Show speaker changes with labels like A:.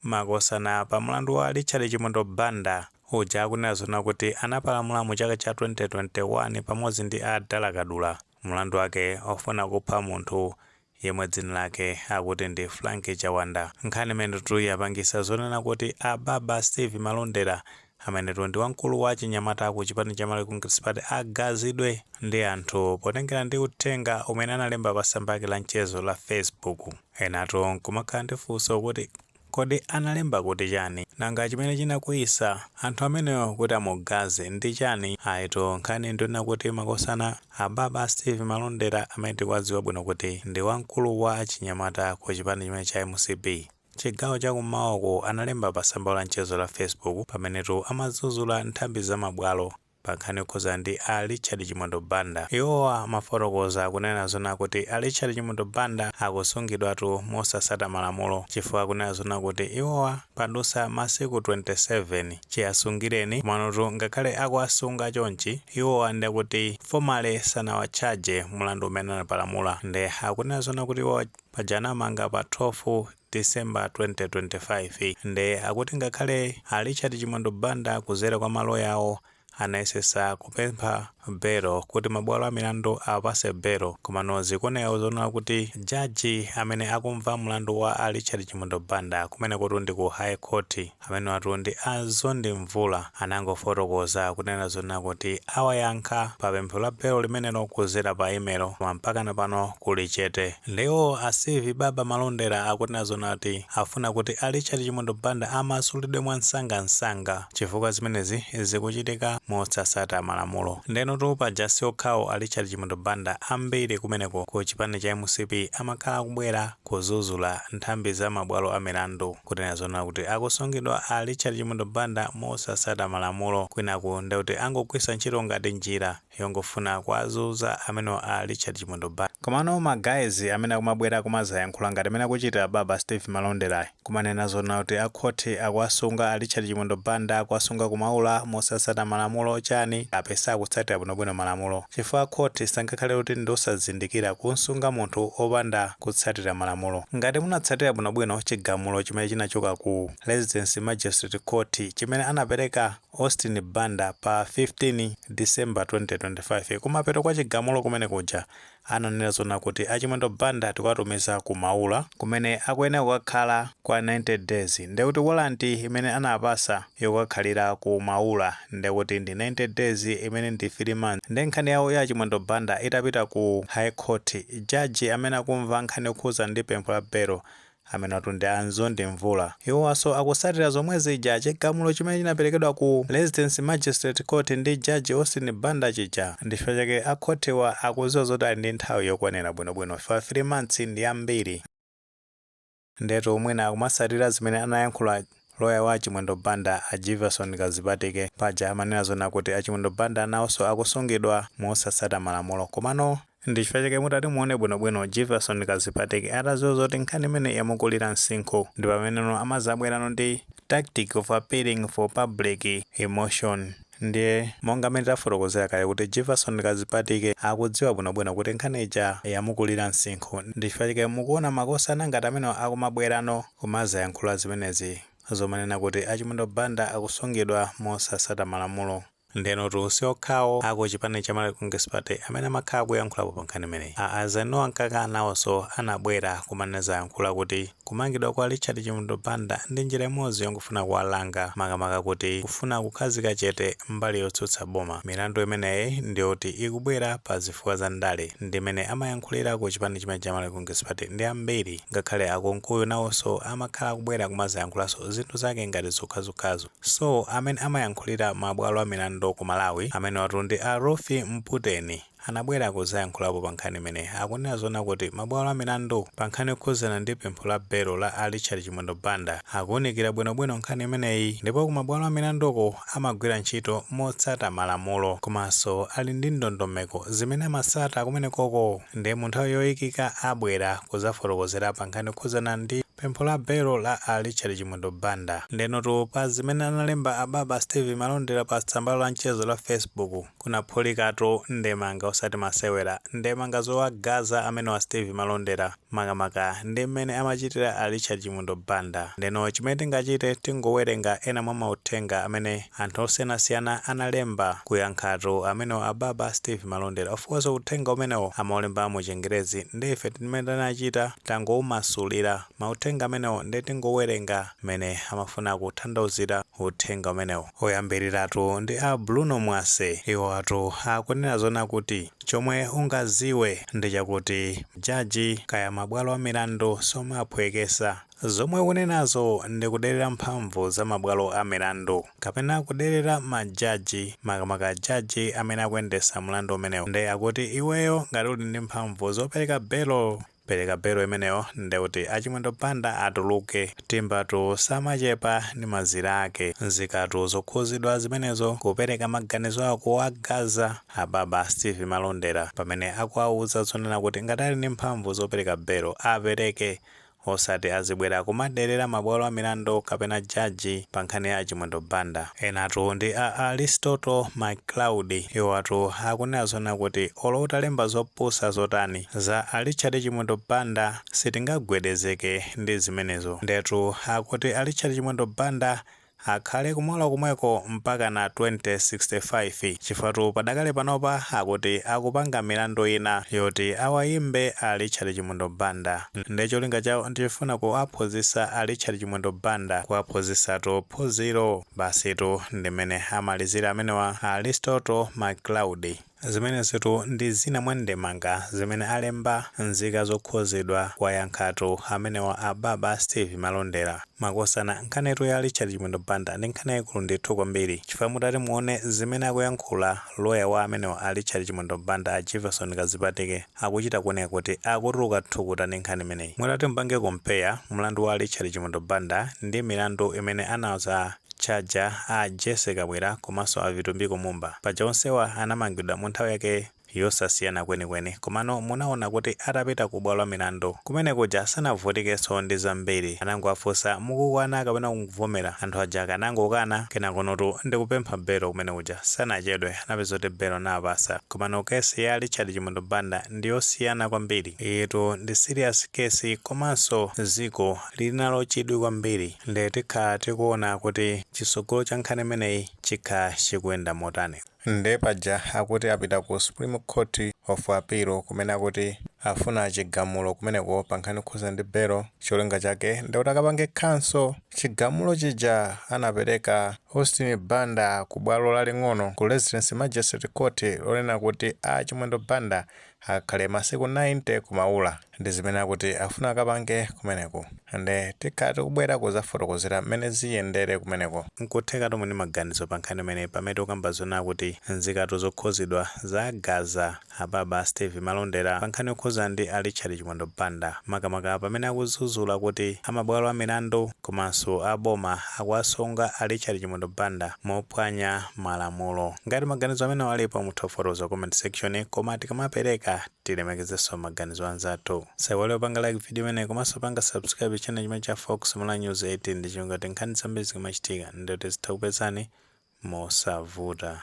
A: Makosana pa mulandu wa Richard Chimwendo Banda uja akunena zonena kuti anapalamula mu chaka cha 2021 pamodzi ndi a Dala Kadula mulandu wake ofuna kupha munthu yemwe dzina lake akuti ndi Frank Chawanda. Nkhani imenetu yapangisa zonena kuti a Baba Steve Malondera Amenetu ndi wamkulu wa achinyamata ku chipani cha Malawi Congress Party agazidwe ndi anthu potengera ndi uthenga umene analemba pa tsamba lake la mchezo la Facebook. Enatu nkumakhala ndi funso kuti kodi analemba kuti chani? Nanga chimene chinakwiyisa anthu amenewo kuti amugaze ndi chani? Ayitu nkhani ndiyonena kuti makosana ababa a Steve Malondera amene tikuwadziwa bwino kuti ndi wamkulu wa achinyamata ku chipani chimene cha mcp, Chigawo cha kummawa uko analemba pa tsamba la mchezo la Facebook pamenetu amadzudzula nthambi za ma bwalo pa nkhani yokhudzana ndi a Richard Chimwendo Banda. Iwowa amafotokoza kunena zonena kuti a Richard Chimwendo Banda akusungidwatu mosatsata malamulo chifukwa akunena zonena kuti iwowa padutsa masiku 27 chiasungireni komanotu ngakhale akuwasunga chonchi iwowa nde akuti formally sanawatchaje mulandu umene anapalamula nde akunena zonena kuti iwowa Paja anawamanga pa 12 December 2025 nde akuti ngakhale a Richard Chimwendo Banda kuzera kwa ma loya awo anayesesa kupempha belo kuti mabwalo amilandu awapase belo komano zikuoneka zonena kuti judge amene akumva mulandu wa a Richard Chimwendo Banda kumenekotu ndi ku High Court Amenewatu ndi a Mzondi Mvula anangofotokoza kunena zonena kuti awayankha pa pempho la belo limenelo kuzera pa email koma mpakana pano kuli chete. Nde iwo a Steve Baba Malondera akunena zonena kuti afuna kuti a Richard Chimwendo Banda amasulidwe mwamsangamsanga chifukwa zimenezi zikuchitika mosatsata malamulo. Ndenotu paja siokhawo a Richard Chimwendo Banda ambiri kumeneko ku chipani cha mcp amakhala akubwera. kuzuzula nthambi za mabwalo a milandu kunena zonena kuti akusungidwa a Richard Chimwendo Banda mosasata malamulo kwinaku ndekuti angogwisa ntchito ngati njira yongofuna kuwazuza amenewa a Richard Chimwendo Banda. Komano ma guys amene akumabwera kumazayankhula ngati mene akuchitira baba Steve Malonderayi. Kumanena zonena kuti a court akuwasunga a Richard Chimwendo Banda akuwasunga ku Maula mosasata malamulo chani apesa akutsatira bwino bwino malamulo chifukwa court sangakhale kuti ndiosazindikira kumsunga munthu opanda kutsatira malamulo ngati munatsatira bwino bwino chigamulo chimene chinachoka ku Residence Magistrate Court chimene anapereka Austin Banda pa 15 December 2025 kumapeto kwa chigamulo kumene kuja ananena zonena kuti a Chimwendo Banda tikuwatumiza ku Maula kumene akuyenera kukakhala kwa 90 days ndekuti warrant imene anawapasa yokakhalira ku Maula ndekuti ndi 90 days imene ndi 3 months nde nkhani yawo ya a Chimwendo Banda itapita ku High Court judge amene akumva nkhani yokhuza ndi pempho la belo Amenewatu ndi a Nzondi Mvula. Iwowaso akusatira zomwe zija chigamulo chimene chinaperekedwa ku Residence Magistrate Court ndi Judge Austin Banda chija. Ndichifukwa chake a khothiwa akuziwa zoti ali ndi nthawi yokwanira bwino bwino chifukwa 3 months ndiyambiri. Ndiyetu mwina akumasatira zimene anayankhula. Loya wa a Chimwendo Banda a Jivason Kazipatike paja amanena zoona kuti a Chimwendo Banda nawoso akusungidwa mosatsata malamulo komano ndichifukwa chake mutati muone bwino bwino Jivason Kazipatike ataziwa zoti nkhani imeneyi yamukulira nsinkhu ndipameneno amazabwerano ndi tactic of appealing for public emotion ndiye monga mmene tafotokozera kale kuti Jivason Kazipatike akudziwa bwino bwino kuti nkhani ija yamukulira nsinkhu ndichifukwa chake mukuona makosana ngati amenewa akumabwerano. Kumazayankhula zimenezi zomanena kuti a Chimwendo Banda akusungidwa mosasata malamulo. Ndenotu siokhawo aku chipani cha Malawi Congress Party amene amakhala akuyankhulapo pa nkhani imeneyi. A Eisenhower Mkaka nawoso anabwera kumanezayankhula kuti kumangidwa kwa Richard Chimwendo Banda ndi njira imodzi yongofuna kuwalanga makamaka kuti kufuna kukhazika chete mbali yotsutsa boma. Milandu imeneyi ndiyoti ikubwera pa zifukwa za ndale. Ndimene amayankhulira ku chipani chimene cha Malawi Congress Party ndi ambiri. ngakhale a kunkuyu nawoso amakhala akubwera kumazayankhulanso zinthu zake ngati zokhazokhazo so amene amayankhulira ma bwalo a milandu ku malawi amenewatu ndi a ruth mputeni anabwera kuzayankhulapo pa nkhani imeneyi akunena zoona kuti ma bwalo a milandu pa nkhani yokhuzana ndi pempho la belo la a richard chimwendo banda akuunikira bwinobwino nkhani imeneyi ndipo ku mabwalo a milanduko amagwira ntchito motsata malamulo komanso ali ndi ndondomeko zimene amasata kumenekoko nde mu nthawi yoyikika abwera kuzafotokozera pa nkhani yokhuzana ndi pempho la belo la a Richard Chimwendo Banda. Ndenotu pa zimene analemba ababa Steve Malondera pa tsamba lawo la mchezo la Facebook, kunaphulikatu ndemanga osati masewera. Ndemanga zowagaza amenewa a Steve Malondera, makamaka ndi mmene amachitira a Richard Chimwendo Banda. Ndeno chimene tingachite tingowerenga ena mwa mauthenga amene. Anthu osiyanasiyana analemba kuyankhatu amenewa ababa Steve Malondera of course uthenga umenewo amaulemba mu chingerezi nde ife zimene tinachita tangoumasulira mauthenga amenewo nde tingowerenga mmene amafuna kuthandauzira uthenga umenewo. Oyambiriratu ndi a Bruno Mwase iwowatu akunena zoona kuti chomwe ungaziwe ndichakuti jaji kaya mabwalo amilandu somaphwekesa. Zomwe ukunenazo ndi kuderera mphamvu za mabwalo a milandu kapena kuderera ma judge makamaka judge amene akuyendesa mlandu umenewo nde akuti iweyo ngati uli ndi mphamvu zopereka belo pereka belo imeneyo ndekuti a Chimwendo Banda atuluke timbatu samachepa ndi mazira ake nzikatu zokhuzidwa zimenezo kupereka maganizo awo kuwagaza ababa Stevie Malondera pamene akuwauza zonena kuti ngati ali ndi mphamvu zopereka belo apereke Osati azibwera kumaderera mabwalo amilandu kapena jaji pa nkhani ya a Chimwendo Banda. Enatu ndi a Aristotle McCloud. Iwowatu akunena zoona kuti olo utalemba zopusa zotani za a Richard Chimwendo Banda sitingagwedezeke ndi zimenezo. Ndiyetu akuti a Richard Chimwendo Banda Akhale ku Maula komweko mpakana 2065 chifukwatu padakali panopa akuti akupanga milandu ina yoti awayimbe a Richard Chimwendo Banda nde cholinga chawo ndichofuna kuwaphunzisa a Richard Chimwendo Banda kuwaphunzisatu phunziro basitu ndimene amalizira amenewa a Aristotle McCloud. Zimenezitu ndi zina mwa ndemanga zimene alemba nzika zokhuzidwa kuwayankhatu amenewa a Baba Steve Malondera. Makosana nkhanitu ya Richard Chimwendo Banda ndi nkhani yaikulu ndithu kwambiri chifukwa mutati muone zimene akuyankhula lawyer wa amenewa a Richard Chimwendo Banda a Jefferson Kazipatike, akuchita kuoneka kuti akutuluka thukuta ndi nkhani imeneyi. Mutati mupange compare mlandu wa Richard Chimwendo Banda ndi milandu imene anauza Chaja, a Jessie Kabwila komanso a Vitumbiko Mumba, paja onsewa anamangidwa mu nthawi yake yosasiyana kwenikweni komano munaona kuti atapita ku bwalo la milandu kumene kuja sanavutikenso ndi zambiri. Anangowafunsa mukukana kapena mukuvomera, anthu aja akanangokana kenakonotu ndi kupempha belo kumene kuja sanachedwe. napeza kuti belo nawapasa. Komano case ya Richard Chimwendo Banda ndiyosiyana kwambiri. Iyitu ndi serious case komanso dziko lilinalo chidwi kwambiri nde tikhala tikuona kuti chitsogolo cha nkhani imeneyi chikha chikuyenda motani. Nde paja akuti apita ku Supreme Court of Appeal kumene akuti afuna chigamulo kumeneko pankhani yokhuza ndi belo cholinga chake ndikuti akapange cancel. Chigamulo chija anapereka Austin Banda ku bwalo laling'ono ku Residence Magistrate Court lonena kuti a Chimwendo Banda akhale masiku 90 ku Maula ndi zimene akuti afuna akapange kumeneko nde tikhala tikubwera kuzafotokozera mmene ziyendere kumeneko. Nkuthekatu muli ndi maganizo pa nkhani imeneyi pamene tikukamba zonena kuti nzikatu zokhuzidwa zagaza. Ababa a Steve Malondera pa nkhani yokhuza ndi a Richard Chimwendo Banda makamaka pamene akuzuzula kuti a mabwalo a milandu komanso a boma akuwasunga a Richard Chimwendo Banda mophwanya malamulo. Ngati maganizo amenewa alipo mutha kufotokoza ku comment section koma tikamapereka tilemekezenso maganizo a anzathu. Musaiwale kupanga like video imeneyi komanso kupanga subscribe channel chimenechi cha Fox Malawi News 18 ndi cholinga choti nkhani zambiri zikamachitika ndi kuti zitha kupezani mosavuta.